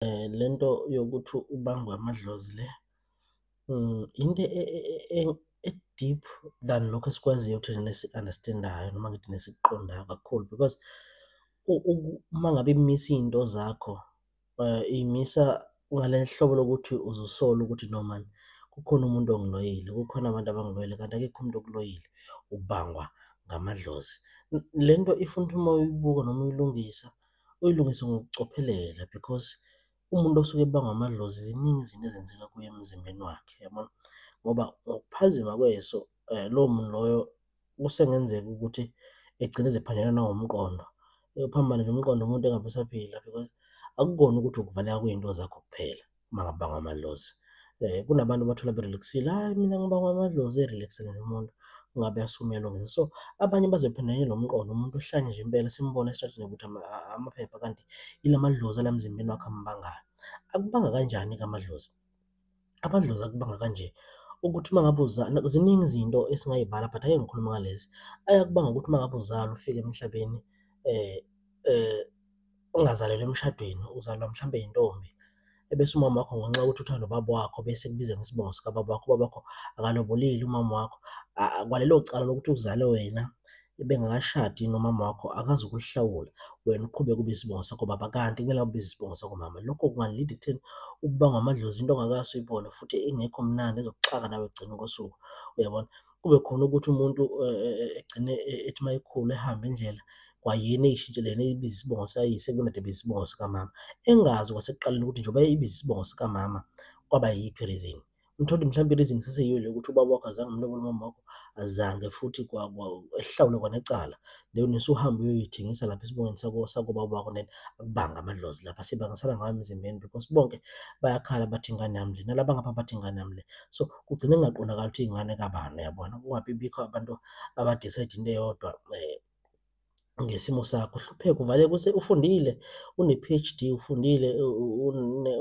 eh, le nto yokuthi ubangwe amadlozi le mm, into e, e, e, e-deep than lokho esikwaziyo ukuthi nesi-understandayo noma ngithi nesikuqondayo kakhulu because uma ngabe imisa iy'nto zakho um imisa ngale hlobo lokuthi uzosola ukuthi no mani kukhona umuntu ongiloyile kukhona abantu abangiloyile kanti akekho umuntu okuloyile ubangwa ngamadlozi le nto ifuna ukuthi uma uyibuka noma uyilungisa uyilungise ngokucophelela because umuntu osuke ebangwa amadlozi ziningi izinto ezenzeka kuye emzimbeni wakhe yabona ngoba ngokuphazima kweso um lowo muntu loyo kusengenzeka ukuthi egcine ezephanjelwa nangomqondo uphambane nomqondo umuntu engabe usaphila because akukona ukuthi ukuvaleka kwey'nto zakho kuphela. uma ngabe bangwa amadlozi um kunabantu bathola berelaxile hhayi mina ngibangwa amadlozi erelaxile nomuntu ungabe asumelwa ngese so abanye bazophinde lo mqondo umuntu uhlanye nje impela simbona esitratini ukuthi amaphepha kanti yila madlozi ala mzimbeni wakhe ambangayo akubanga kanjani-ke amadlozi amadlozi akubanga kanje ukuthi uma ngabe uzala ziningi izinto esingayibala but ake ngikhuluma ngalezi ayakubanga ukuthi uma ngabe uzala ufike emhlabeni um um ungazalelwa emshadweni uzalwa mhlawumbe yintombi ebese umama wakho ngenxa yokuthi uthanda ubaba wakho bese kubiza ngesibongo sikababa wakho ubaba wakho akalobolile umama wakho kwalelo cala lokuthi uzale wena ebengakashadi nomama wakho akazi ukuhlawula wena uqhube kube isibongo sakho baba kanti kumele akubize isibongo sakho mama lokho kungalida ekutheni ukubangwa amadlozi into ongakazi uyibone futhi ingekho mnandi ezokuxaka nawe ekugcina kosuku uyabona kube khona ukuthi umuntu eh, eh, eh, egcine ethi uma ekhulu ehambe indlela kwayena eyishintshe lena ibiza isibongo sikayise kunade ibiza isibongo sikamama engazi kwasekuqaleni ukuthi njengoba ibiza isibongo sikamama kwaba yiphi reason mthole mhlawumbe reason seseyiyo le ukuthi ubaba wakho azange umlobole umama wakho azange futhi ehlawule kwanecala leyo nesuhambe uyoyithengisa lapha esibongweni sakobaba wakho then akubanga amadlozi lapha sebangasala ngayo emzimbeni because bonke bayakhala bathi ingane yami le nalaba ngapha bathi ingane yami le so kugcine kungaqondakali ukuthi ingane kabani yabona kungabi bikho abantu abadecide into eyodwa eh, ngesimo sakho uhlupheka uvale kuse ufundile une-PhD ufundile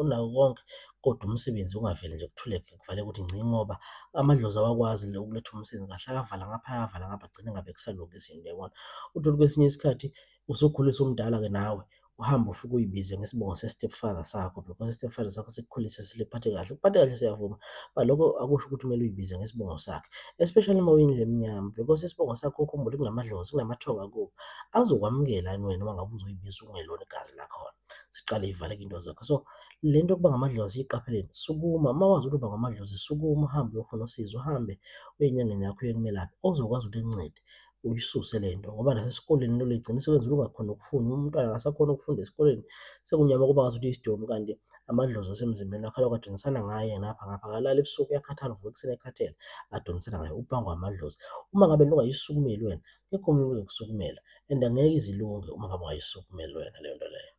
unawo konke kodwa umsebenzi ungaveli nje kuthuleke kuvale ukuthi ngci ngoba amadlozi awakwazi le ukuletha umsebenzi kahle akavala ngapha akavala ngapha agcine ngabe kusalunga izinto yabona uthole kwesinye isikhathi usukhuliswa umdala-ke nawe uhambe ufike uyibize ngesibongo se-stepfather sakho because i-stepfather sakho sikukhulise siliphathe kahle ukuphathe kahle siyavuma but lokho akusho ukuthi kumele uyibize ngesibongo sakhe especially uma uyindlu emnyama because isibongo sakho ukhumbule kunamadlozi kunamathonga kubo azokwamukela yini wena uma ngabe uzoyibiza ungelona igazi lakhona siqale ivaleke into zakho so le nto yokuba ngamadlozi iqapheleni sukuma uma wazi ukuthi uba ngamadlozi sukuma uhambe uyofuna usizo uhambe uye enyangeni yakho uye kumelaphi ozokwazi ukuthi ekuncede uyisuse le nto ngoba nasesikoleni into ligcina isebenza ungakhona ukufunda uma umntwana akasakhona ukufunda esikoleni sekunyama kuba ngazuthi isidomu kanti amadlozi asemzimbeni wakhe alokhu adonsana ngaye ngapha ngapha akalala ebusuku uyakhathala uvuka ekuseni ekhathele adonsana ngaye ubangwa amadlozi uma ngabe lungayisukumeli wena kekho omunye uzokusukumela and angeke izilunge uma ngabe ungayisukumeli wena leyo nto leyo